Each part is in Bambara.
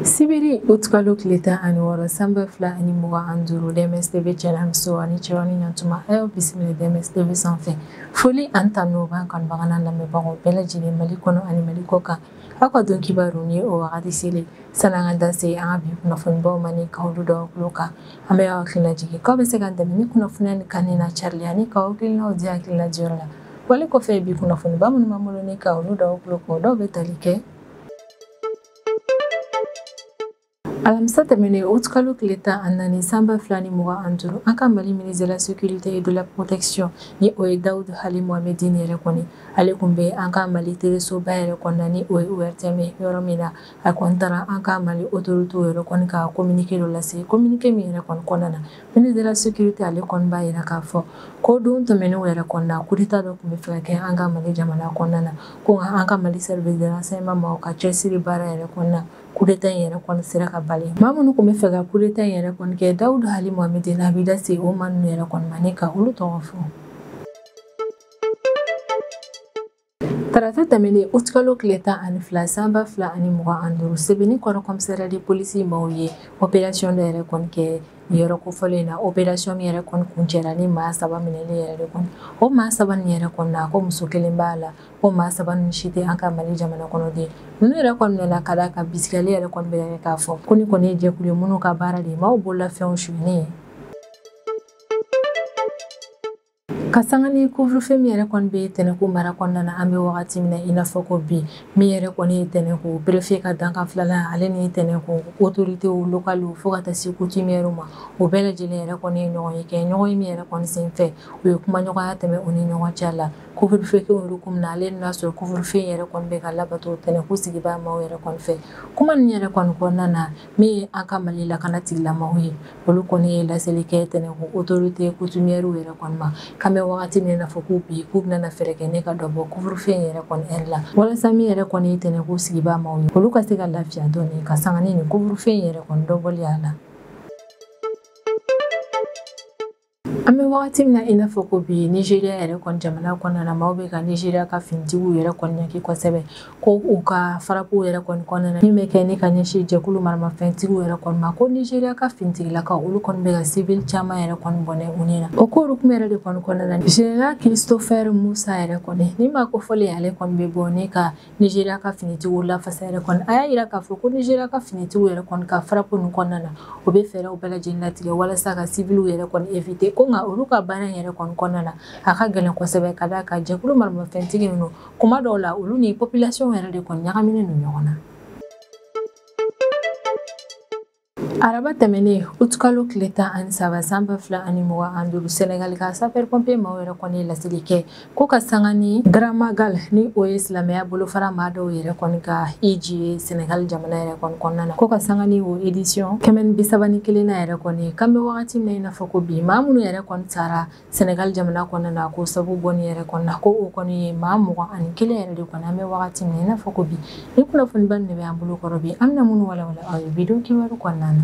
sibiri utikalo tile tan ani wɔɔrɔ sanba fila ani mugan ani duuru dms tv cɛlamiso ani cɛwani ɲatuma a y'aw bisimila dms tv sanfɛ foli ani tanu b'an kanubaga n'a lamɛnbagaw bɛɛ lajɛlen mali kɔnɔ ani mali kɔkan aw ka don kibaru ni o wagati selen sani an ka da se an ka bi kunnafonibaw ma ni k'olu d'aw tulo kan an bɛ aw hakilina jigin k'aw bɛ se k'an dɛmɛ ni kunnafoniya nin kanuni n'a carili ani k'aw hakilinaw di hakilina diyɔrɔ la Wale kɔfɛ bi kunnafoniba minnu b'an bolo ni ka olu da aw tulo kan, dɔw bɛ tali kɛ alamisa tɛmɛnen aout kalo tile tan ani naani san ba fila ni mugan ani duuru an ka mali ministre de la sécurité et de la protection ni o ye dawud hali mohamedine yɛrɛ kɔni ale kun bɛ an ka mali telesoba yɛrɛ kɔnɔna ni o ye ORTM ye yɔrɔ min na a kɔni taara an ka mali autorités yɛrɛ kɔni ka communiqué dɔ lase communiqué min yɛrɛ kɔni kɔnɔna na Ministre de la sécurité ale kɔni b'a yira k'a fɔ ko don tɛmɛnenw yɛrɛ kɔnɔna coup d'Etat dɔ kun bɛ fɛ ka kɛ an ka Mali jamana kɔnɔna na ko nka an ka Mali service de renseignement maaw ka cɛsiri baara yɛrɛ kɔnɔna coup d'Etat in yɛrɛ kɔni sera ka bali maa minnu kun bɛ fɛ ka coup d'Etat in yɛrɛ kɔni kɛ Dawud Ali Mohamedine a b'i da se o maa ninnu yɛrɛ kɔni ma ni ka olu tɔgɔ fɔ. tarata tɛmɛnen utikalo tile tan ani fila san ba fila ani mugan ani duuru sebenikɔrɔ commissariat de police maaw ye opération dɔ yɛrɛ kɔni kɛ yɔrɔ kofɔlen in na opération min yɛrɛ kɔni kuncɛra ni maa saba minɛli yɛrɛ de kɔni o maa saba nin yɛrɛ kɔni na ko muso kelen b'a la ko maa saba nin si tɛ an ka mali jamana kɔnɔden ninnu yɛrɛ kɔni minɛna ka d'a kan bisigiyali yɛrɛ kɔni bɛ k'a fɔ ko nin kɔni ye jɛkulu ye minnu ka baara de ye maaw bololafɛnw sunyɛni ye ka sanga ni couvre-feu min yɛrɛ kɔni bɛ tɛnɛnku mara kɔnɔna na an bɛ wagati min na i n'a fɔ ko bi min yɛrɛ kɔni ye tɛnɛnku préfet ka dankan filanan ale ni tɛnɛnku autorités locales fo ka taa se coutumières ma o bɛɛ lajɛlen yɛrɛ kɔni ye ɲɔgɔnye kɛ ɲɔgɔnye min yɛrɛ kɔni senfɛ u ye kumaɲɔgɔnya tɛmɛ u ni ɲɔgɔn cɛ la couvre-feu kɛ hukumu na hali n'a sɔrɔ couvre-feu yɛrɛ kɔni bɛ ka labato tɛnɛnku sigibaa maaw yɛrɛ kɔni fɛ kuma nin yɛrɛ kɔni kɔnɔna na min ye an ka Mali lakana tigilamaaw ye olu kɔni ye laseli kɛ tɛnɛnku autorités coutumières yɛrɛ kɔni ma k'an bɛ wagati min na i n'a fɔ ko bi k'u bɛna fɛɛrɛ kɛ ni ka dɔ bɔ couvre-feu in yɛrɛ kɔni heure la walasa min yɛrɛ kɔni ye tɛnɛnku sigibaa maaw ye olu ka se ka lafiya dɔɔni ka sanga ni couvre-feu in yɛrɛ kɔni dɔbɔli a la an bɛ wagati min na i n'a fɔ ko bi nizeriya yɛrɛ kɔni jamana kɔnɔna na maaw bɛ ka nizeriya ka finitigiw yɛrɛ kɔni jalaki kosɛbɛ ko u ka frappew yɛrɛ kɔni kɔnɔna na min bɛ kɛ ni ka ɲɛsin jɛkulu maramafɛntigiw yɛrɛ kɔni ma ko nizeriya ka finitigilakaw olu kɔni bɛ ka sivili caman yɛrɛ kɔni bɔnɛ u ni na o ko hukumu yɛrɛ de kɔni kɔnɔna na general christopher musa yɛrɛ kɔni nin maa kofɔlen ale kɔni bɛ bɔ ni ka Nizeriya ka finitigiw lafasa yɛrɛ kɔni a y'a yira k'a fɔ ko Nizeriya ka finitigiw yɛrɛ kɔni ka frappe nin kɔnɔna na u bɛ fɛɛrɛw bɛɛ lajɛlen latigɛ walasa ka siwiliw yɛrɛ kɔni éviter ko nka olu ka baara yɛrɛ kɔni kɔnɔna na a ka gɛlɛn kosɛbɛ ka d'a kan jɛkulu maramafɛntigi ninnu kuma dɔw la olu ni population yɛrɛ de kɔni ɲagaminen don ɲɔgɔn na araba tɛmɛnen utukalo tile tan ani saba san ba fila ani mugan ani duuru senegali ka sapeur-pompier maaw yɛrɛ kɔni ye laseli kɛ ko ka sanga ni grand magal ni o ye silamɛya bolofara maa dɔw yɛrɛ kɔni ka hiji ye senegali jamana yɛrɛ kɔni kɔnɔna na ko ka sanga ni o edisiyɔn kɛmɛ ni bisaba ni kelennan yɛrɛ kɔni k'an bɛ wagati min na i n'a fɔ ko bi maa minnu yɛrɛ kɔni sara Senegali jamana kɔnɔna na ko sabu bɔ ni yɛrɛ kɔnɔna ko o kɔni ye maa mugan ani kelen yɛrɛ de kɔni an bɛ wagati min na i n'a fɔ ko bi ni kunnafoniba de bɛ an bolo kɔrɔ bi an bɛna minnu walawala aw ye bi don kibaru kɔnɔna na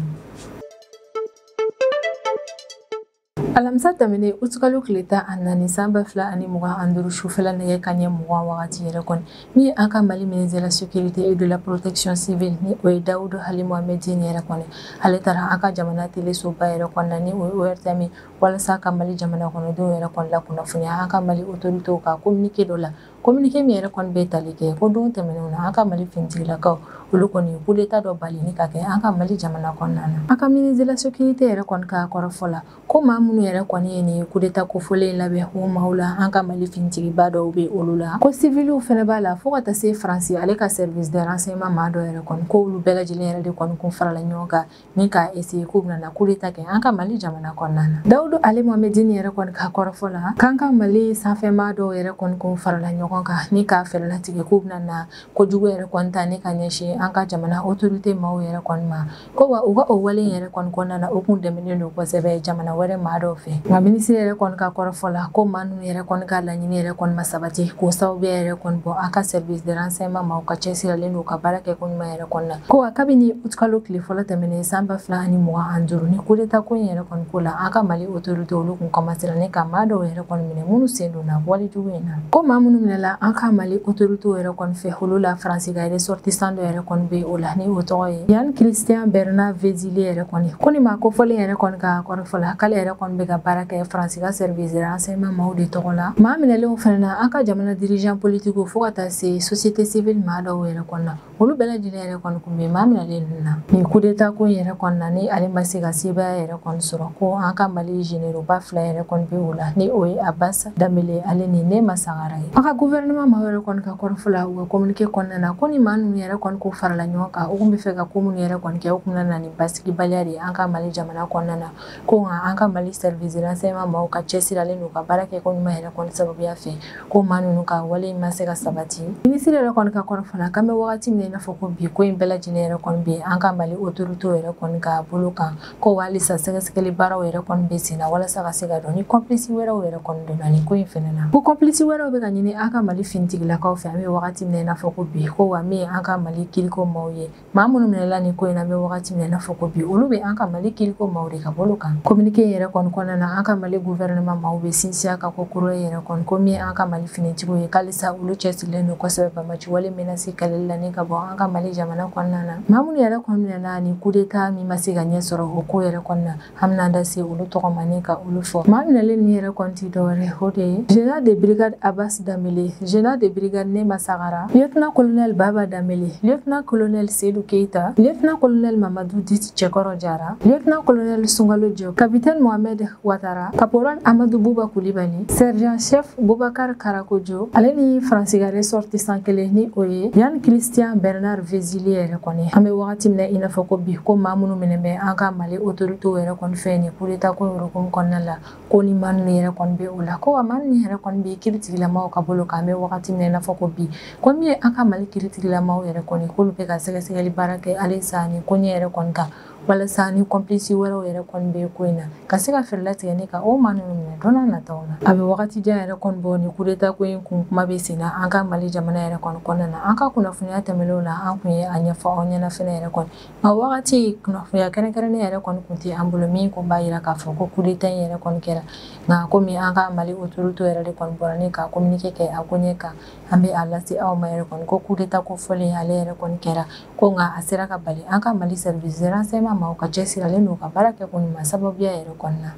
alamisa tɛmɛnen utukalo tile tan ani naani san ba fila ani mugan ani duuru sufɛla nɛgɛ kanɲɛ mugan wagati yɛrɛ kɔni min ye an ka mali ministre de la sécurité et de la protection civile ni o ye dawudu ali mohamɛdini yɛrɛ kɔni ale taara an ka jamana telesoba yɛrɛ kɔnɔna ni o ye ortm walasa ka mali jamana kɔnɔdenw yɛrɛ kɔni lakunnafoniya an ka mali otorite ka kominike dɔ la kominike min yɛrɛ kɔni bɛ tali kɛ ko don tɛmɛnenw na an ka mali finitigilakaw olu kɔni kudeta dɔ bali ni ka kɛ an ka mali jamana kɔnɔna na an ka ministre de la sécurité yɛrɛ kɔni ka kɔrɔfɔ la ko maa minnu yɛrɛ kɔni ye nin kudeta kofɔlen labɛn o maaw la an ka mali finitigiba dɔw bɛ olu la ko siwiliw fɛnɛ b'a la fo ka taa se faransi ale ka service de renseignement maa dɔ yɛrɛ kɔni ko olu bɛɛ lajɛlen yɛrɛ de kɔni kun farala ɲɔgɔn kan ni ka essayer k'u bɛna kudeta kɛ an ka mali jamana kɔnɔna na dawudu ali mohamɛdini yɛrɛ kɔni ka kɔrɔfɔ la k'an ka mali sanfɛmaa dɔw yɛrɛ kɔni kun farala ɲɔgɔn kan ni ka fɛɛrɛ latigɛ k'u bɛna na kojugu yɛrɛ kɔni ta ni ka ɲɛsin an ka jamana otorite maaw yɛrɛ kɔni ma ko wa u ka o wale yɛrɛ kɔni kɔnɔna na u kun dɛmɛnen don kosɛbɛ jamana wɛrɛ maa dɔw fɛ nka minisiri yɛrɛ kɔni ka kɔrɔfɔ la ko maa ninnu yɛrɛ kɔni ka laɲini yɛrɛ kɔni ma sabati k'o sababu yɛrɛ kɔni bɔ an ka service de renseignement maaw ka cɛsiralen don ka baara kɛ ko ɲuman yɛrɛ kɔni na ko wa kabini utkalo tile fɔlɔ tɛmɛnen san ba fila ani mugan ani duuru ni kudeta ko in yɛrɛ kɔni ko la an ka mali otorite olu kun kɔmansera ni ka maa dɔw yɛrɛ kɔni minɛ minnu sen donna walejugu in na ko maa minnu minɛla an ka mali otorite yɛrɛ kɔni fɛ olu la faransi ka ressortissant dɔ yɛrɛ kɔni bɛ o la ni o tɔgɔ ye yann christian bernard vezilier yɛrɛ kɔni ko ni maa kofɔlen yɛrɛ kɔni ka kɔrɔfɔ la k'ale yɛrɛ kɔni bɛ ka baara kɛ faransi ka service de renseignement maaw de tɔgɔ la maa minɛlenw fɛnɛ na an ka jamana dirigeant politique fo ka taa se société civile maa dɔw yɛrɛ kɔni na olu bɛɛ lajɛlen yɛrɛ kɔni kun bɛ maa minɛlen ninnu na nin kudeta ko yɛrɛ kɔni na ni ale ma se ka sebaya yɛrɛ kɔni sɔrɔ ko an ka mali généraux ba fila yɛrɛ kɔni bɛ o la ni o ye abas danbele ale ni nema sagara ye an ka guvɛrɛnɛman maa yɛrɛ kɔni ka kɔrɔfɔ la u ka kominike kɔnɔna na ko ni maa ninnu yɛrɛ kɔni kun farala ɲɔgɔn kan u kun bɛ fɛ ka ko minnu yɛrɛ kɔni kɛ u kun na ni basigibaliya de ye an ka mali jamana kɔnɔna na ko nka an ka mali service de renseignement maaw ka cɛsiralen don ka baara kɛ ko ɲuman yɛrɛ kɔni sababuya fɛ ko maa ninnu ka wale in ma se ka sabati minisiri yɛrɛ kɔni ka kɔrɔfɔ na k'an bɛ wagati min i n'a fɔ ko bi ko in bɛɛ lajɛlen yɛrɛ kɔni bɛ an ka mali otoritew yɛrɛ kɔni ka bolo kan ko halisa sɛgɛsɛgɛli baaraw yɛrɛ kɔni bɛ sen na walasa ka se ka dɔn ni kɔnpilisi wɛrɛw yɛrɛ kɔni donna nin ko in fɛnɛ na ko kɔnpilisi wɛrɛw bɛ ka ɲini an ka mali finitigilakaw fɛ an bɛ wagati min i n'a fɔ ko bi ko wa min an ka mali kiriko maw ye maa minnu minɛla nin ko in na an bɛ wagati min i n'a fɔ ko bi olu bɛ an ka mali kiriko maaw de ka bolo kan kominike yɛrɛ kɔni kɔnɔna na an ka mali guvɛrɛnɛma maaw bɛ sinsin a kan kokura yɛrɛ kɔni ko min an ka mali finitigiw ye k'alisa olu cɛsirilen don kosɛbɛ banbaanci wale menasi kɛlɛli la ni ka bɔ an ka mali jamana kɔnɔna na maa minnu yɛrɛ kɔni minɛla nin kudeta min ma se ka ɲɛ sɔrɔ o ko yɛrɛ kɔnɔna an bɛna da se olu tɔgɔ ma ni ka olu fɔ maa minɛlen nin yɛrɛ kɔni tɛ dɔwɛrɛ o de ye général de brigade abbas danbele général de brigade nema sagara lieutenant colonel baba danbele lieutenant colonel sedu keita lieutenant colonel mamadu dit cɛkɔrɔ jara lieutenant colonel sungalo jɔ capitaine mohamed watara caporal amadu buba kulibali sergent chef bubakar karakojo ale ni faransi ka ressortissant kelen ni o ye yann christian bernard vezilier yɛrɛ kɔni an bɛ wagati min na i n'a fɔ ko bi ko maa minnu minɛ bɛ an ka Mali autorité yɛrɛ kɔni fɛ nin coup d'Etat ko yɛrɛ hukumu kɔnɔna la, ko ni maa min yɛrɛ kɔni bɛ o la, ko wa maa ninnu yɛrɛ kɔni bɛ kiritigilamaw ka bolo kan, an bɛ wagati min na i n'a fɔ ko bi, ko min ye an ka Mali kiritigilamaw yɛrɛ kɔni k'olu bɛ ka sɛgɛsɛgɛli baara kɛ halisa nin koɲɛ yɛrɛ kɔni kan, walasa ni complices wɛrɛw yɛrɛ kɔni bɛ ko in na, ka se ka fɛɛrɛ latigɛ ni ka o maa ninnu minɛ don nataw la. A bɛ wagati jan yɛrɛ kɔni bɔ nin coup d'Etat ko in kun kuma bɛ sen na an ka Mali jamana yɛrɛ kɔni kɔnɔna na, an ka kunnafoniya tɛmɛnenw na, an tun ye a ɲɛfɔ aw ɲɛna fana yɛrɛ kɔni. A wagati kunnafoniya kɛrɛnkɛrɛnnen yɛrɛ kɔni tun tɛ an bolo min tun b'a jira k'a fɔ ko coup d'Etat in yɛrɛ kɔni kɛra nka komi an ka Mali autorités yɛrɛ de kɔni bɔra ni ka communiqué kɛ a koɲɛ kan an bɛ a lase aw ma yɛrɛ kɔni ko coup d'Etat ko fɔlen ale yɛrɛ kɔni kɛra ko nka a sera ka bali an ka Mali service de renseignement maaw ka cɛsiri ale n'u ka baara kɛko ɲuman sababuya yɛrɛ kɔni na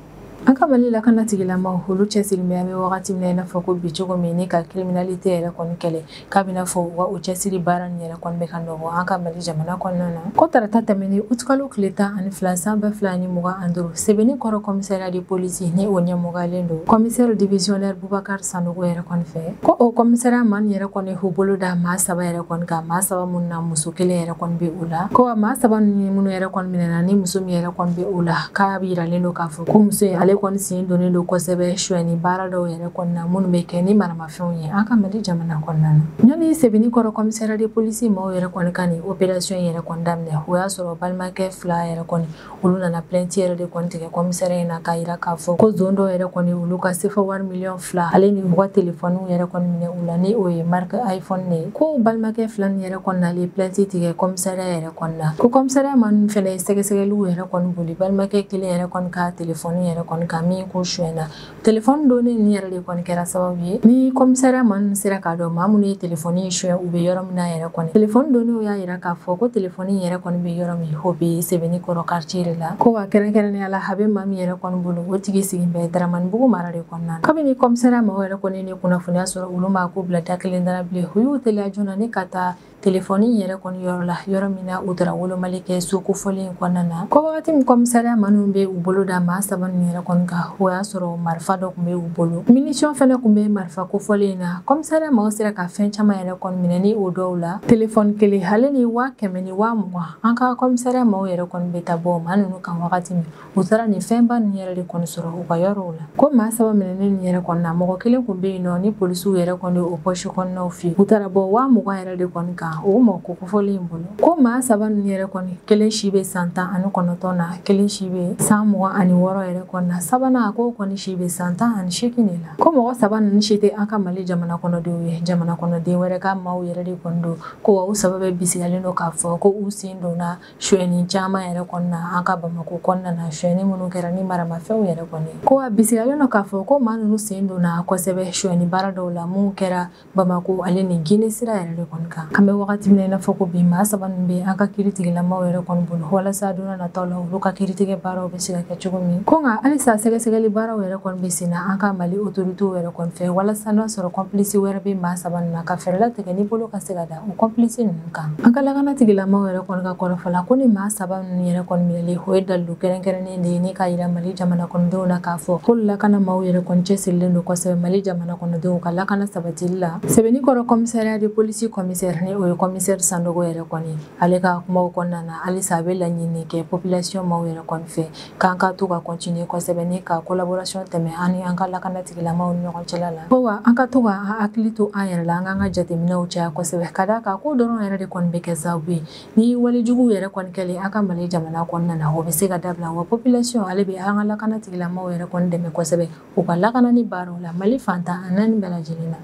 an ka mali lakanatigilamaw olu cɛsirilen bɛ an bɛ wagati min na i n'a fɔ ko bi cogo min ni ka kiriminalite yɛrɛ kɔni kɛlɛ k'a bɛ i n'a fɔ u ka o cɛsiri baara nin yɛrɛ kɔni bɛ ka nɔ bɔ an ka mali jamana kɔnɔna na ko tarata tɛmɛnen utukalo tile tan ani fila san ba fila ni mugan ani duuru sebeninkɔrɔ kɔmisɛriya de polisi ni o ɲɛmɔgɔyalen don kɔmisɛri divisiyɔnɛri Bubakar Sanogo yɛrɛ kɔni fɛ ko o kɔmisariya maa ninnu yɛrɛ kɔni y'u bolo da maa saba yɛrɛ kɔni kan maa saba minnu na muso kelen yɛrɛ kɔni bɛ o la ko wa maa saba ninnu minnu yɛrɛ kɔni minɛna ni muso min yɛrɛ kɔni bɛ o la k'a yiralen don k'a fɔ ko muso in ale kɔni sen donnen don kosɛbɛ suɲɛni baara dɔw yɛrɛ kɔni na minnu bɛ kɛ ni maramafɛnw ye an ka mali jamana kɔnɔna na ɲani sebeninkɔrɔ kɔmisariya de polisi maaw yɛrɛ kɔni ka nin operasiyɔn yɛrɛ kɔni daminɛ o y'a sɔrɔ balimakɛ fila yɛrɛ kɔni olu nana plainte yɛrɛ de kɔni tigɛ kɔmisariya in na k'a yira k'a fɔ ko zon dɔw yɛrɛ kɔni olu ka sefa wari miliyɔn fila ale ni u ka telefɔniw yɛrɛ kɔni minɛ u la ni o ye marike iphone ne ye ko balimakɛ fila nin yɛrɛ kɔni nalen plainte tigɛ kɔmisariya yɛrɛ kɔni na ko kɔmisariya maa ninnu fɛnɛ ye sɛgɛsɛgɛliw yɛrɛ kɔni boli balimakɛ kelen yɛrɛ kɔni ka telefɔni yɛrɛ kɔni kan min kun suɲɛna telefɔni donnée nin yɛrɛ de kɔni kɛra sababu ye ni kɔmisariya maa ninnu sera k'a dɔn maa minnu ye telefɔni in suɲɛ u bɛ yɔrɔ min na yɛrɛ kɔni telefɔni donnéew y'a yira k'a fɔ ko telefɔni in yɛrɛ kɔni bɛ yɔrɔ min o bɛ sebenikɔrɔ karitiye de la ko wa kɛrɛnkɛrɛnnenya la a bɛ maa min yɛrɛ kɔni bolo o tigi sigin bɛ daramanibugu mara de kɔnɔna na kabini kɔmisariya maaw yɛrɛ kɔni ye nin kunnafoniya sɔrɔ olu m'a ko bila da kelen dara bilen u y'u teliya joona ni ka taa Telefɔni yɛrɛ kɔni yɔrɔ la yɔrɔ min na u taara wolomali kɛ so kofɔlen in kɔnɔna na ko wagati min kɔmisariya maa ninnu bɛ u bolo da maa saba ninnu yɛrɛ kɔni kan o y'a sɔrɔ marifa dɔ kun bɛ u bolo minisiyɔn fɛnɛ kun bɛ marifa kofɔlen in na kɔmisariya maaw sera ka fɛn caman yɛrɛ kɔni minɛ ni o dɔw la telefɔni kelen ale ni waa kɛmɛ ni waa mugan an ka kɔmisariya maaw yɛrɛ kɔni bɛ taa bɔ maa ninnu kan wagati min u taara nin fɛnba ninnu yɛrɛ de kɔni sɔrɔ u ka yɔrɔw la ko maa saba minɛnen nin yɛrɛ kɔni na mɔgɔ kelen kun bɛ yen nɔ ni polisiw yɛrɛ kɔni o pɔsi kɔnɔnaw fɛ u taara bɔ waa mugan yɛrɛ de kɔni kan o mɔgɔ ko kofɔlen in bolo ko maa saba ninnu yɛrɛ kɔni kelen si bɛ san tan ani kɔnɔntɔn na kelen si bɛ san mugan ani wɔɔrɔ yɛrɛ kɔni na sabanan a ko kɔni si bɛ san tan ani seegin de la ko mɔgɔ saba ninnu si tɛ an ka mali jamana kɔnɔdenw ye jamana kɔnɔden wɛrɛ ka maaw yɛrɛ de kɔni don ko wa u saba bɛ bisigalen don k'a fɔ ko u sen donna suɲɛni caman yɛrɛ kɔni na an ka bamakɔ kɔnɔna na suɲɛni minnu kɛra ni maramafɛnw yɛrɛ kɔni ko a bisigalen don k'a fɔ ko maa ninnu sen donna kosɛbɛ suɲɛni baara dɔw la minnu kɛra bamakɔ ale ni gine sira yɛrɛ de kɔni kan an bɛ wagati min na i n'a fɔ ko bi maa saba ninnu bɛ an ka kiritigɛlamaw yɛrɛ kɔni bolo walasa don nataw la olu ka kiritigɛ baaraw bɛ se ka kɛ cogo min ko nka halisa sɛgɛsɛgɛli baaraw yɛrɛ kɔni bɛ sen na an ka mali otoritew yɛrɛ kɔni fɛ walasa n'a sɔrɔ kɔnplisi wɛrɛ bɛ maa saba ninnu na ka fɛɛrɛ latigɛ ni bolo ka se ka da O kɔnpilisi ninnu kan an ka lakanatigilamaw yɛrɛ kɔni ka kɔrɔfɔ la ko ni maa saba ninnu yɛrɛ kɔni minɛli o ye dalilu kɛrɛnkɛrɛnnen de ye ni ka yira Mali jamana kɔnɔdenw na k'a fɔ ko lakana maaw yɛrɛ kɔni cɛsirilen don kosɛbɛ Mali jamana kɔnɔdenw ka lakana sabatili la sebenikɔrɔ kɔmisariya de polisi kɔmisɛri ni o ye kɔmisɛri Sanogo yɛrɛ kɔni ale ka kumaw kɔnɔna na halisa a bɛ laɲini kɛ population maaw yɛrɛ kɔni fɛ k'an ka to ka continuer kosɛbɛ ni ka kolaborasiyɔn tɛmɛ an ni an ka lakanatigilamaw ni ɲɔgɔn cɛla la ko wa an ka to ka hakili to an yɛrɛ la an k'an ka jateminɛw caya kosɛbɛ ka d'a kan k'o dɔrɔn yɛrɛ de kɔni bɛ kɛ sababu ye ni wale juguw yɛrɛ kɔni kɛli an ka mali jamana kɔnɔna na o bɛ se ka dabila wa population ale bɛ an ka lakanatigilamaw yɛrɛ kɔni dɛmɛ kosɛbɛ u ka lakanani baaraw la mali fan tan ani naani bɛɛ lajɛlen na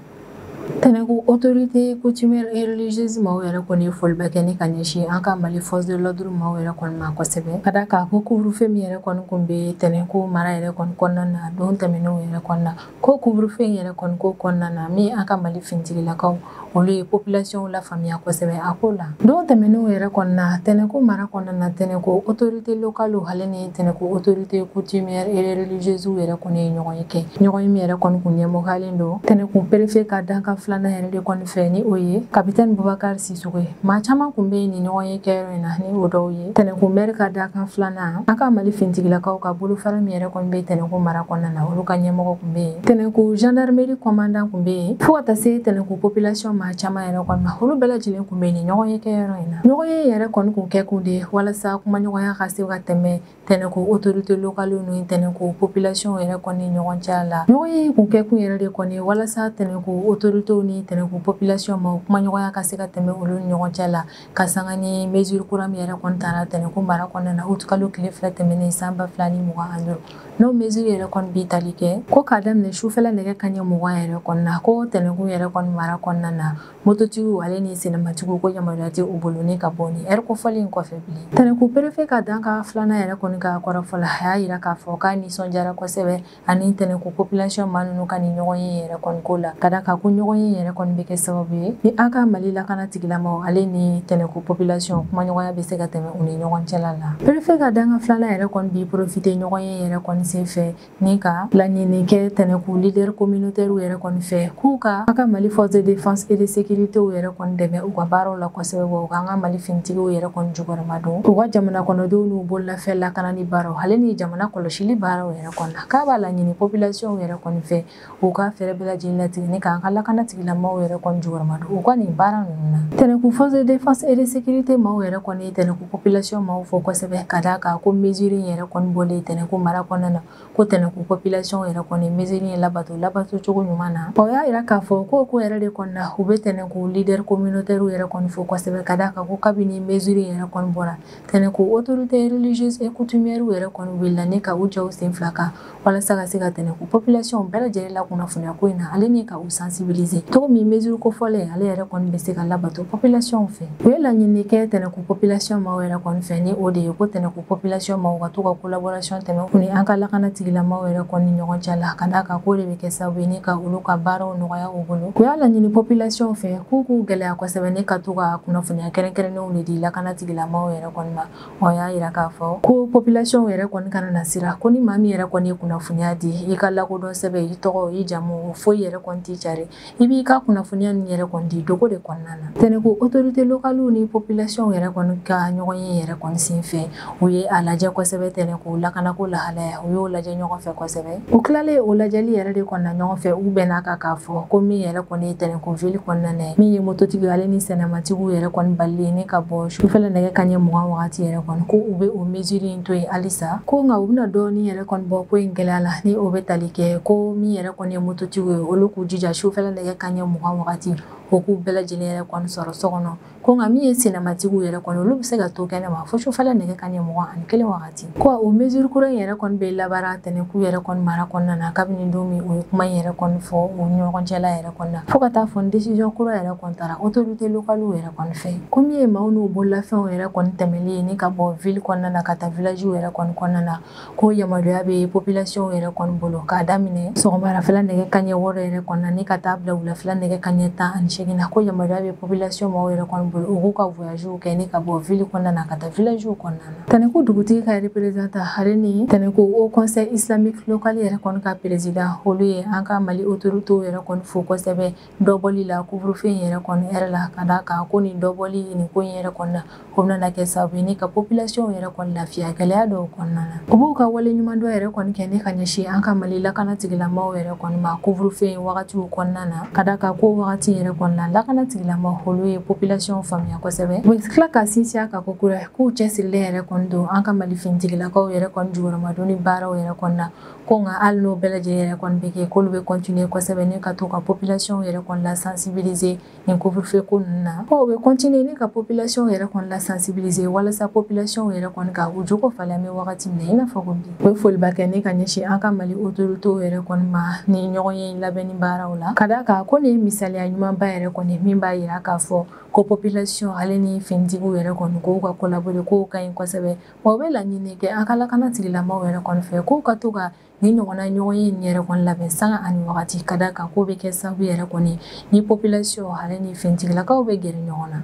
tɛnɛnku autorité coutumière et religieuse maaw yɛrɛ kɔni ye foliba kɛ ni ka ɲɛsin an ka mali force de l'ordre maaw yɛrɛ kɔni ma kosɛbɛ ka d'a kan ko couvre-feu min yɛrɛ kɔni kun bɛ tɛnɛnku mara yɛrɛ kɔni kɔnɔna na don tɛmɛnenw yɛrɛ kɔnɔna ko couvre-feu yɛrɛ kɔni ko kɔnɔna na min an ka mali fintigilakaw olu ye population lafaamuya kosɛbɛ a ko la don tɛmɛnenw yɛrɛ kɔnɔna tɛnɛnku mara kɔnɔna tɛnɛnku autorité locale ale ni tɛnɛnku autorité coutumière et religieuse yɛrɛ kɔni ye ɲɔgɔn ye kɛ ɲɔgɔn ye min yɛrɛ kɔni kun ɲɛmɔgɔyalen don tɛnɛnku perefe ka dankan filanan yɛrɛ de kɔni fɛ ni o ye kapitɛni bubakari sisɔkɔ ye maa caman kun bɛ yen ni ɲɔgɔn ye kɛyɔrɔ in na ni o dɔw ye tɛnɛnku mɛri ka dankan filanan an ka mali finitigilakaw ka bolofara min yɛrɛ kɔni bɛ tɛnɛnku mara kɔnɔna na olu ka ɲɛmɔgɔ kun bɛ yen tɛnɛnku gendarmerie commandant kun bɛ yen fo ka taa se tɛnɛnku population maa caman yɛrɛ kɔni ma olu bɛɛ lajɛlen kun bɛ ni ɲɔgɔn ye kɛyɔrɔ in na ɲɔgɔn ye yɛrɛ kɔni kun kɛ kun de walasa kumaɲɔgɔnya ka se ka tɛmɛ tɛnɛnku autorité locale ni tɛnɛnku population yɛrɛ kɔni ɲɔgɔn cɛ la ɲɔgɔn ye kun kɛ kun yɛrɛ de kɔni walasa tɛnɛnku autorité ni tɛnɛnku population maa kumaɲɔgɔnya ka se ka tɛmɛ olu ni ɲɔgɔn cɛ la ka sanga ni mesure kura min yɛrɛ kɔni tara tɛnɛnku mara kɔnɔna na août kalo tile fila tɛmɛnen san ba fila ni mugan ani duuru n'o mesure yɛrɛ kɔni bi tali kɛ ko k'a daminɛ sufɛla nɛgɛ kaɲɛ mugan yɛrɛ kɔnɔna ko tɛnɛnku yɛrɛ kɔni mara kɔnɔna na mototigiw ale ni senamatigiw ko yamaruya tɛ u bolo ni ka bɔ ni ɛri kofɔlen in kɔfɛ bilen tɛnɛnku perefe ka dankan filanan yɛrɛ kɔni ka kɔrɔfɔ la a y'a yira k'a fɔ k'a nisɔndiyara kosɛbɛ ani tɛnɛnku population maa ninnu ka nin ɲɔgɔn ye yɛrɛ kɔni ko la ka d'a kan ko ɲɔgɔn ye yɛrɛ kɔni bɛ kɛ sababu ye ni an ka mali lakanatigilamaw ale ni tɛnɛnku population kumaɲɔgɔnya bɛ se ka tɛmɛ u ni ɲɔgɔn cɛla la perefe ka dankan filanan yɛrɛ kɔni b'i profite ɲɔgɔn ye yɛrɛ kɔni sen fɛ ni ka laɲini kɛ tɛnɛnku leader communautaire yɛrɛ kɔni fɛ k'u ka an ka mali force de défense et de sécurité yɛrɛ kɔni dɛmɛ u ka baaraw la kosɛbɛ wa u k'an ka mali finitigiw yɛrɛ kɔni jukɔrɔma don u ka jamana kɔnɔdenw n'u bololafɛn lakanani baaraw ale ni jamana kɔlɔsili baaraw yɛrɛ kɔni na k'a b'a laɲini population yɛrɛ kɔni fɛ u ka fɛɛrɛ bɛɛ lajɛlen latigɛ ni k'an ka lakanatigilamaw yɛrɛ kɔni jukɔrɔma don u ka nin baara ninnu na tɛnɛnku force de défense et de sécurité maaw yɛrɛ kɔni ye tɛnɛnku population maaw fo kosɛbɛ ka d'a kan ko mesure in yɛrɛ kɔni bɔlen tɛnɛnku mara kɔnɔna na ko tɛnɛnku population yɛrɛ kɔni mesure in labato labatocogo ɲuman na o y'a yira k'a fɔ k'o ko yɛrɛ de kɔni na u bɛ tɛnɛnku leader communautaire yɛrɛ kɔni fo kosɛbɛ ka d'a kan ko kabini mesure in yɛrɛ kɔni bɔra tɛnɛnku autorité religieuse et coutumière yɛrɛ kɔni wulila ni ka u jɔ u sen fila kan walasa ka se ka tɛnɛnku population bɛɛ lajɛlen lakunnafoniya ko in na ale ni ka u sensibiliser cogo min mesure kofɔlen ale yɛrɛ kɔni bɛ se ka labato population fɛ u ye laɲini kɛ tɛnɛnku population maw yɛrɛ kɔni fɛ ni o de ye ko tɛnɛnku population maw ka to ka collaboration tɛmɛ u ni an ka lakanatigilamaw yɛrɛ kɔni ɲɔgɔn cɛ la ka d'a kan k'o de bɛ kɛ sababu ye ni ka olu ka baaraw nɔgɔya u bolo u y'a laɲini population fɛ k'u k'u gɛlɛya kosɛbɛ ni ka to ka kunnafoniya kɛrɛnkɛrɛnnen de di lakanatigilamaw yɛrɛ kɔni ma o y'a yira k'a fɔ ko population yɛrɛ kɔni kana na siran ko ni maa min yɛrɛ kɔni ye kunnafoniya di i ka lakodɔn sɛbɛn i tɔgɔ i jamu foyi yɛrɛ kɔni tɛ cari i b'i ka kunnafoniya nin yɛrɛ kɔni di dogo de kɔnɔna na tɛnɛnku autorité locale ni population yɛrɛ kɔni ka ɲɔgɔn ye yɛrɛ kɔni sen fɛ u ye a lajɛ kosɛbɛ tɛnɛkun lakanako lahalaya u y'o lajɛ ɲɔgɔn fɛ kosɛbɛ u tilalen o lajɛli yɛrɛ de kɔnɔna ɲɔgɔn fɛ u bɛn'a kan k'a fɔ ko min yɛrɛ kɔni ye tɛnɛkun ville kɔnɔna na min ye mototigi ale ni senamatigiw yɛrɛ kɔni balili ye ni ka bɔ sufɛla nɛgɛ kaɲɛ mugan wagati yɛrɛ kɔni ko u bɛ o mesure in to yen halisa ko nka u bɛna dɔɔni yɛrɛ kɔni bɔ ko in gɛlɛya la ni o bɛ tali kɛ ko min yɛrɛ kɔni ye mototigiw ye olu k'u jija sufɛla nɛgɛ kaɲɛ mugan wagati o k'u bɛɛ lajɛlen yɛrɛ kɔni sɔrɔ so kɔnɔ ko nka min ye senamatigiw yɛrɛ kɔni olu bɛ se ka to kɛnɛ ma fo sufɛla nɛgɛ kaɲɛ mugan ani kelen wagati ko o mesure kura in yɛrɛ kɔni bɛ labaara tɛnɛkun yɛrɛ kɔni mara kɔnɔna na kabini don min u ye kuma in yɛrɛ kɔni fɔ u ɲɔgɔn cɛla yɛrɛ kɔni na fo ka taa fɔ décision kura yɛrɛ kɔni taara autorité localew yɛrɛ kɔni fɛ ko min ye maaw n'u bololafɛnw yɛrɛ kɔni tɛmɛli ye ni ka bɔ ville kɔnɔna na ka taa villagew yɛrɛ kɔni kɔnɔna na ko yamaruya bɛ population yɛrɛ kɔni bolo k'a daminɛ sɔgɔmarafɛla nɛgɛ kaɲɛ wɔɔrɔ yɛrɛ kɔni na ni ka taa bila wulafɛla nɛgɛ kaɲɛ tan ani seegin na ko yamaruya bɛ population maaw yɛrɛ kɔni bolo u k'u ka voyagew kɛ ni ka bɔ ville kɔnɔna na ka taa villagew kɔnɔna na tɛnɛkun dugutigi ka représentant ale ni tɛnɛkun haut conseil islamique local yɛrɛ kɔni ka président olu ye an ka mali autoritéw yɛrɛ kɔni fo kosɛbɛ dɔbɔli la couvre-feu in yɛrɛ kɔni heure la ka d'a kan ko nin dɔbɔli nin ko in yɛrɛ kɔni na o bɛna kɛ sababu ye ni ka population yɛrɛ kɔni lafiya gɛlɛya dɔw kɔnɔna na u b'u ka waleɲumandɔn yɛrɛ kɔni kɛ ni ka ɲɛsin an ka mali lakana tigilamaw yɛrɛ kɔni ma couvre-feu in wagatiw kɔnɔna na ka d'a kan ko wagati yɛrɛ kɔni na lakana tigilamaw olu ye population faamuya kosɛbɛ u tila ka sinsin a kan kokura k'u cɛsirilen yɛrɛ kɔni don an ka mali finitigilakaw yɛrɛ kɔni jukɔrɔmadonni baaraw yɛrɛ kɔni na Ko nka hali n'o bɛɛ lajɛlen yɛrɛ kɔni bɛ kɛ k'olu bɛ continuer kosɛbɛ ni ka to ka population yɛrɛ kɔni la sensibiliser nin couvre feu ko ninnu na, ko u bɛ continuer ni ka population yɛrɛ kɔni la sensibiliser walasa population yɛrɛ kɔni ka u jogo falen an bɛ wagati min na i n'a fɔ ko bi. U bɛ foliba kɛ ni ka ɲɛsin an ka Mali autorités yɛrɛ kɔni ma nin ɲɔgɔnye in labɛnni baaraw la, ka d'a kan ko nin ye misaliya ɲumanba yɛrɛ kɔni ye min b'a jira k'a fɔ ko population ale ni finitigiw yɛrɛ kɔni k'u ka collaborer k'o ka ɲi kosɛbɛ. wa u bɛ laɲini kɛ an ka lakana tigilamaw yɛrɛ kɔni fɛ k'u ka to ka nin ɲɔgɔnna ɲɔgɔnye in yɛrɛ kɔni labɛn sanga ani wagati ka d'a kan k'o bɛ kɛ sababu yɛrɛ kɔni ni population ale ni finitigilakaw bɛ gɛrɛ ɲɔgɔn na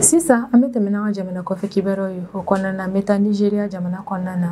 sisan an bɛ tɛmɛ n'an ka jamana kɔfɛ kibaruyaw ye o kɔnɔna na n bɛ taa nizeriya jamana kɔnɔna na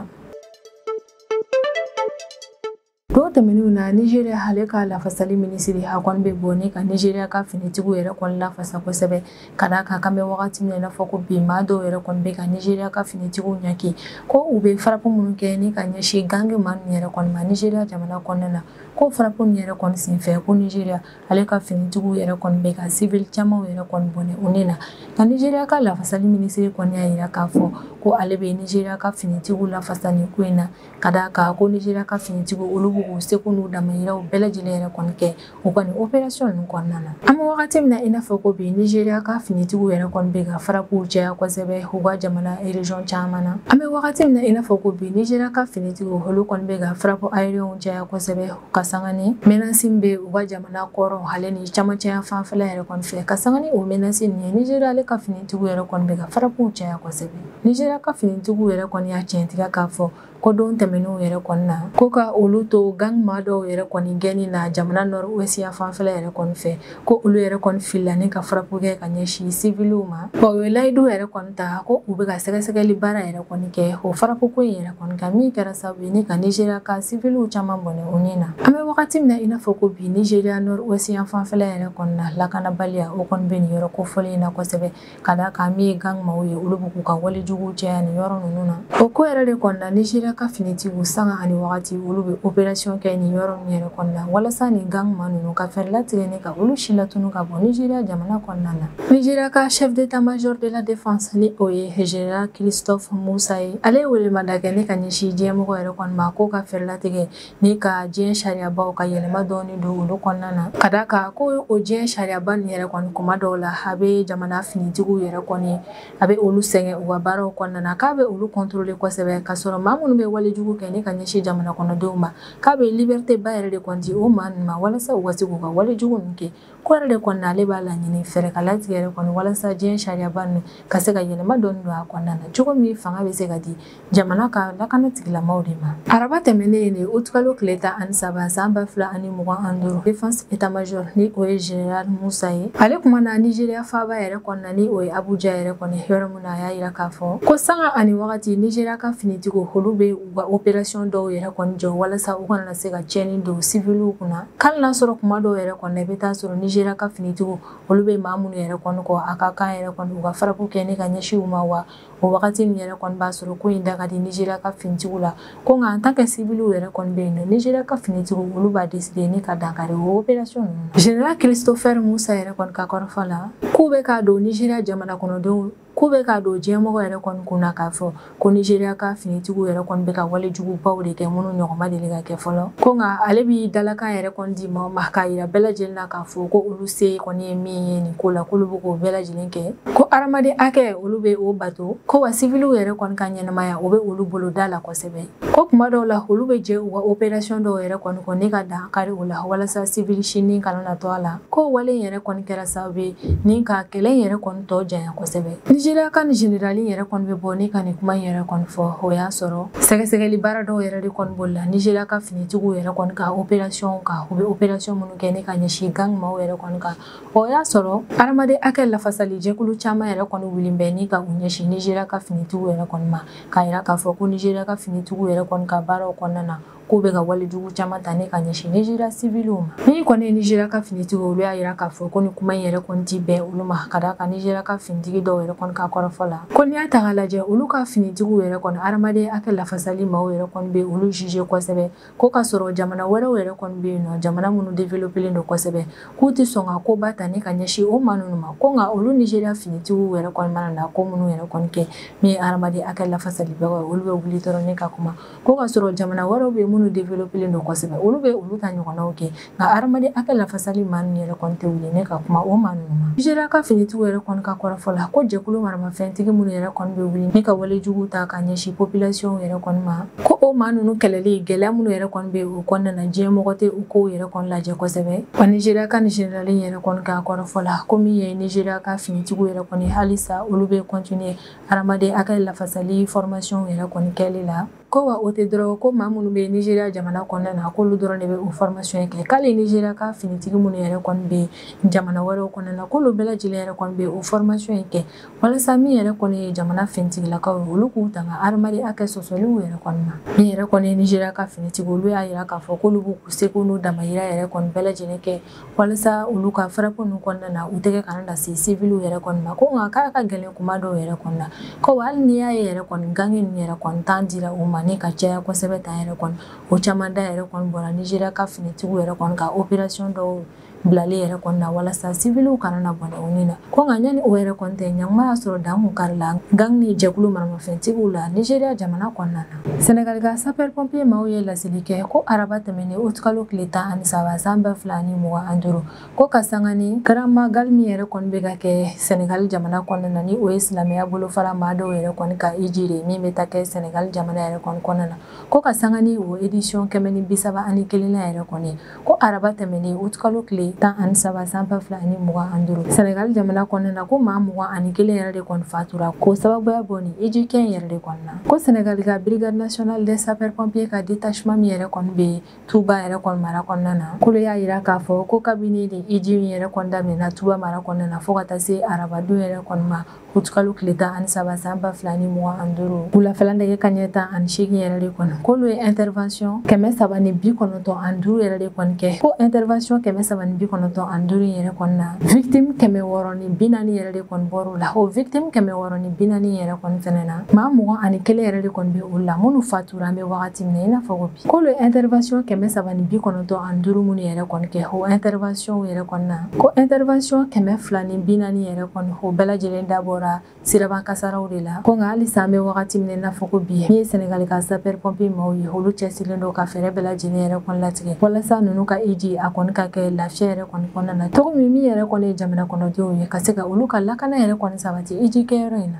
Don tɛmɛnenw na Nigeria ale ka lafasali minisiri a kɔni bɛ bɔ ni ka Nigeria ka finitigiw yɛrɛ kɔni lafasa kosɛbɛ ka d'a kan k'an bɛ wagati min na i n'a fɔ ko bi maa dɔw yɛrɛ kɔni bɛ ka Nigeria ka finitigiw ɲaki ko u bɛ frappe minnu kɛ ni ka ɲɛsin gang maa ninnu yɛrɛ kɔni ma Nigeria jamana kɔnɔna na ko frappe ninnu yɛrɛ kɔni senfɛ ko Nigeria ale ka finitigiw yɛrɛ kɔni bɛ ka civil camanw yɛrɛ kɔni bɔnɛ u ni na nka Nigeria ka lafasali minisiri kɔni y'a jira k'a fɔ ko ale bɛ Nigeria ka finitigiw lafasa nin ko in na ka d'a kan ko nizeriya ka finitigiw olu bɛ k'u seko n'u damayiraw bɛɛ lajɛlen yɛrɛ kɔni kɛ u ka nin operasiyɔn ninnu kɔnɔna na an bɛ wagati min na i n'a fɔ ko bi nizeriya ka finitigiw yɛrɛ kɔni bɛ ka farapuw caya kosɛbɛ u ka jamana erezɔn caman na an bɛ wagati min na i n'a fɔ ko bi nizeriya ka finitigiw olu kɔni bɛ ka farapu ayeriyɛniw caya kosɛbɛ ka sanga ni mɛnansi min bɛ u ka jamana kɔrɔn ale ni camancɛ yanfan fɛla yɛrɛ kɔni fɛ ka sanga ni o mɛnansi nin ye nizeriya ale ka finitigiw yɛrɛ kɔni bɛ ka farapuw caya kosɛbɛ Nizeriya ka finitigiw yɛrɛ kɔni y'a tiɲɛtigiya k'a fɔ ko don tɛmɛnenw yɛrɛ kɔni na ko ka olu to gang maa dɔw yɛrɛ kɔni gɛnni na jamana nɔruwɛsi yanfan fɛla yɛrɛ kɔni fɛ ko olu yɛrɛ kɔni filila ni ka farapu kɛ ka ɲɛsin siviliw ma wa u ye layidu yɛrɛ kɔni ta ko u bɛ ka sɛgɛsɛgɛli baara yɛrɛ kɔni kɛ o farapu ko in yɛrɛ kɔni kan min kɛra sababu ye ni ka nizeriya ka siviliw caman bɔnɛ u ni na an bɛ wagati min na i n'a fɔ ko bi nizeriya nɔruwɛsi yanfan fɛla yɛrɛ kɔni na lakanabaliya o kɔni bɛ nin yɔrɔ kofɔlen in na kosɛbɛ ka d'a kan min ye gang maaw ye olu bɛ k'u ka wale jugu caya nin yɔrɔ ninnu na o ko yɛrɛ de kɔni na nizeriya ka finitigiw sanga ani wagati olu bɛ operasiyɔn kɛ nin yɔrɔ ninnu yɛrɛ kɔni na walasa nin gang maa ninnu ka fɛɛrɛ latigɛ ni ka olu silatunu ka bɔ nizeriya jamana kɔnɔna na nizeriya ka chef d'état major de la défense ni o ye general christophe musa ye ale ye welemada kɛ ni ka ɲɛsin diɲɛmɔgɔ yɛrɛ kɔni ma k'u ka fɛɛrɛ latigɛ ni ka diɲɛ sariyabaw ka yɛlɛma dɔɔni don olu kɔnɔna na ka d'a kan ko o diɲɛ sariyaba nin yɛrɛ kɔni kuma dɔw la a bɛ jamana finitigiw yɛrɛ kɔni a bɛ olu sɛgɛn u ka baaraw kɔnɔna na k'a bɛ olu kɔntɔrɔle kosɛbɛ ka sɔrɔ maa minnu bɛ walejugu kɛ ni ka ɲɛsin jamana kɔnɔdenw ma k'a bɛ libɛriteba yɛrɛ de kɔni di o maa ninnu ma walasa u ka se k'u ka walejugu ninnu kɛ ko yɛrɛ de kɔni na ale b'a laɲini fɛɛrɛ ka latigɛ yɛrɛ kɔni walasa diɲɛ sariyaba ninnu ka se ka yɛlɛma dɔɔni don a kɔnɔna na cogo min fanga bɛ se ka di jamana ka lakana tigilamaw de ma araba tɛmɛnen nin utukalo tile tan ani saba san ba fila ani mugan ani duuru defense etamajor ni o ye general musa ye ale kumana nizeriya faaba yɛrɛ kɔnɔna ni o ye abuja yɛrɛ kɔni yɔrɔ min na a y'a yira k'a fɔ ko sanga ani wagati nizeriya ka finitigiw olu bɛ u ka operasiyɔn dɔw yɛrɛ kɔni jɔ walasa u kana se ka tiɲɛni don siviliw kunna k'ali n'a sɔrɔ kuma dɔw yɛrɛ kɔni na i bɛ taa sɔrɔ nizeriya ka finitigiw olu bɛ maa minnu yɛrɛ kɔni kɔ a ka kan yɛrɛ kɔni u ka farapu kɛ ni ka ɲɛsin u ma wa o wagati min yɛrɛ kɔni b'a sɔrɔ ko in da ka di nizeriya ka finitigiw la ko nka en tant que siviliw yɛrɛ kɔni bɛ yen nɔ nizeriya ka finitigiw olu b'a deside ni ka dankari o operasiyɔn ninnu general christopher musa yɛrɛ kɔni ka kɔrɔfɔ la k'u bɛ k'a don nizeriya jamana kɔnɔdenw k'u bɛ k'a don diɲɛmɔgɔ yɛrɛ kɔni kun na k'a fɔ ko nigeria ka finitigiw yɛrɛ kɔni bɛ ka wale jugubaw de kɛ minnu ɲɔgɔn ma deli ka kɛ fɔlɔ ko nka ale b'i dalakan yɛrɛ kɔni di maaw ma k'a yira bɛɛ lajɛlen na k'a fɔ ko olu se kɔni ye min ye nin ko la k'olu bɛ k'o bɛɛ lajɛlen kɛ ko adamaden hakɛ olu bɛ o bato ko wa siviliw yɛrɛ kɔni ka ɲɛnamaya o bɛ olu bolo da la kosɛbɛ ko kuma dɔw la olu bɛ jɛn u ka operasiyɔn dɔw yɛrɛ kɔni kɔ ni ka dan kari o la walasa sivili si ni kana na to a la k'o wale yɛrɛ kɔni kɛra sababu ye ni ka kɛlɛ yɛrɛ kɔni tɔ janya kosɛbɛ nizeriya ka nin generali yɛrɛ kɔni bɛ bɔ ne ka nin kuma yɛrɛ kɔni fɔ o y'a sɔrɔ sɛgɛsɛgɛli baara dɔw yɛrɛ de kɔni bolila nizeriya ka finitigiw yɛrɛ kɔni ka operasiyɔn kan u bɛ operasiyɔn minnu kɛ ne ka ɲɛsin gangi maaw yɛrɛ kɔni kan o y'a sɔrɔ hadamaden hakɛ lafasali jɛkulu caman yɛrɛ kɔni wulilen bɛ ni ka u ɲɛsin nizeriya ka finitigiw yɛrɛ kɔni ma k'a yira k'a fɔ ko nizeriya ka finitigiw yɛrɛ kɔni ka baaraw kɔnɔna na k'u bɛ ka wale jugu caman ta ne ka ɲɛsin nizeriya siviliw ma ni kɔni ye nizeriya ka finitigiw olu y'a yira k'a fɔ ko nin kuma in yɛrɛ kɔni ti bɛn olu ma ka d'a kan nizeriya ka finitigi dɔw yɛrɛ kɔni ka kɔrɔfɔ la ko n'i y'a ta k'a lajɛ olu ka finitigiw yɛrɛ kɔni hadamaden hakɛ lafasali maaw yɛrɛ kɔni bɛ olu juge kosɛbɛ ko ka sɔrɔ jamana wɛrɛw yɛrɛ kɔni bɛ yen n'o jamana minnu developelen don kosɛbɛ k'u tɛ sɔn ka koba ta ni ka ɲɛsin o maa ninnu ma ko nka olu nizeriya finitigiw yɛrɛ kɔni mana na ko minnu yɛrɛ kɔni kɛ min ye hadamaden hakɛ lafasalibagaw olu bɛ wuli dɔrɔn ne ka kuma ko ka sɔrɔ jamana wɛrɛw bɛ minnu développelen don kosɛbɛ olu bɛ olu ta ɲɔgɔnnaw kɛ nka hadamaden hakɛ lafasali maa ninnu yɛrɛ kɔni tɛ wuli ne ka kuma o maa ninnu ma nizeriya ka finitigiw yɛrɛ kɔni ka kɔrɔfɔ la ko jɛkulu maramafɛntigi minnu yɛrɛ kɔni bɛ wuli ne ka wale jugu ta ka ɲɛsin population yɛrɛ kɔni ma ko o maa ninnu kɛlɛli gɛlɛya minnu yɛrɛ kɔni bɛ o kɔnɔna na diɲɛ mɔgɔ tɛ o kow yɛrɛ kɔni lajɛ kosɛbɛ wa nizeriya ka nin generali yɛrɛ kɔni ka kɔrɔfɔ la ko min ye nizeriya ka finitigiw yɛrɛ kɔni halisa olu bɛ continuer hadamaden hakɛ lafasali fɔrmasiyɔnw yɛrɛ kɔni kɛli la ko wa o tɛ dɔrɔn ko maa minnu bɛ nizeriya jamana kɔnɔna na k'olu dɔrɔn de bɛ o fɔrmasiyɔn kɛ k'hali nizeriya ka finitigi minnu yɛrɛ kɔni bɛ jamana wɛrɛw kɔnɔna na k'olu bɛɛ lajɛlen yɛrɛ kɔni bɛ o fɔrmasiyɔn kɛ walasa min yɛrɛ kɔni ye jamana finitigilakaw ye olu k'u tanga hadamaden hakɛ sɔsɔliw yɛrɛ kɔni ma min yɛrɛ kɔni ye nizeriya ka finitigi olu y'a yira k'a fɔ k'olu b'u seko n'u damayira yɛrɛ kɔni bɛɛ lajɛlen kɛ walasa olu ka frappe ninnu kɔnɔna na u tɛgɛ kana na se siviliw yɛrɛ kɔni ma ko nka k'a ka gɛlɛn kuma dɔw yɛrɛ kɔni na ko hali n'i y'a ye yɛrɛ kɔni gangi ninnu yɛrɛ kɔni tan dira u ma ni ka caya kosɛbɛ tan yɛrɛ kɔni o caman da yɛrɛ kɔni bɔra nizeriya ka finitigiw yɛrɛ kɔni ka operasiyɔn dɔw bilali yɛrɛ kɔni na walasa siviliw kana na bɔnɛ u ni na ko nka yanni o yɛrɛ kɔni tɛ ɲanguma y'a sɔrɔ dan tun karila gang ni jɛkulu maramafɛntigiw la nizeriya jamana kɔnɔna na Sɛnɛgali ka sapeurs pompiers maaw ye laseli kɛ ko araba tɛmɛnen aout kalo tile tan ani saba san ba fila ani mugan ani duuru ko ka sanga ni grand magal min yɛrɛ kɔni bɛ ka kɛ Sɛnɛgali jamana kɔnɔna na ni o ye silamɛya bolofara maa dɔw yɛrɛ kɔni ka hiji de ye min bɛ ta kɛ Sɛnɛgali jamana yɛrɛ kɔni kɔnɔna na ko ka sanga ni o édition kɛmɛ ni bi saba ani kelennan yɛrɛ kɔni ye ko araba tɛmɛnen utikalo tile tan ani saba san ba fila ani mugan an duuru sɛnɛgali jamana kɔnɔna na ko maa mugan ani kelen yɛrɛ de kɔni fatura ko sababuya bɔ nin hiji kɛ yɛrɛ de kɔnɔna ko sɛnɛgali ka brigade nationale des sapeurs pompiers ka détachement min yɛrɛ kɔni bɛ tuba yɛrɛ kɔni mara kɔnɔna na k'olu y'a yira k'a fɔ ko kabini nin hiji min yɛrɛ kɔni daminɛna tuba mara kɔnɔna na fo ka taa se arabadon yɛrɛ kɔni ma utikalo tile tan ani saba san ba fila ni mugan ani duuru wulafɛla nɛgɛ kanɲɛ tan ani seegin yɛrɛ de kɔnɔ k'olu ye intervention kɛmɛ saba ni bi kɔnɔntɔn ani duuru yɛrɛ de kɔni kɛ ko intervention kɛmɛ saba ni bi kɔnɔntɔn ani duuru in yɛrɛ kɔni na victime kɛmɛ wɔɔrɔ ni bi naani yɛrɛ de kɔni bɔr'u la o victime kɛmɛ wɔɔrɔ ni bi naani yɛrɛ kɔni fɛnɛ na maa mugan ani kelen yɛrɛ de kɔni bɛ olu la minnu fatu tura an bɛ wagati min na i n'a fɔ ko bi k'olu ye intervention kɛmɛ saba ni bi kɔnɔntɔn ani duuru minnu yɛrɛ kɔni kɛ o intervention yɛrɛ kɔni na ko intervention kɛmɛ fila ni bi naani yɛrɛ kɔni o bɛɛ lajɛlen dabɔra siraba kasaraw de la ko nka halisa an bɛ wagati min na i n'a fɔ ko bi min ye sɛnɛgali ka sapeur pompier maaw ye olu cɛsirilen don ka fɛɛrɛ bɛɛ lajɛlen yɛrɛ kɔni latigɛ walasa ninnu ka hiji a kɔni ka kɛ lafiya yɛrɛ kɔni kɔnɔna na cogo min min yɛrɛ kɔni ye jamana kɔnɔdenw ye ka se ka olu ka lakana yɛrɛ kɔni sabati hiji kɛyɔrɔ in na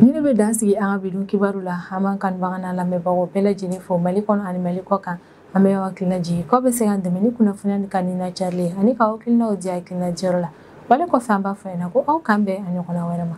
Nin de bɛ dan sigi an ka bi don kibaru la an b'an kanubaga n'an lamɛnbagaw bɛɛ lajɛlen fo mali kɔnɔ ani mali kɔ kan an bɛ aw hakili lajigin k'aw bɛ se k'an dɛmɛ ni kunnafoni ni ka nin lacari ani k'aw hakilinaw di hakilina diyɔrɔ la wale kɔfɛ an b'a fɔ yan na ko aw k'an bɛn a ɲɔgɔnna wɛrɛ ma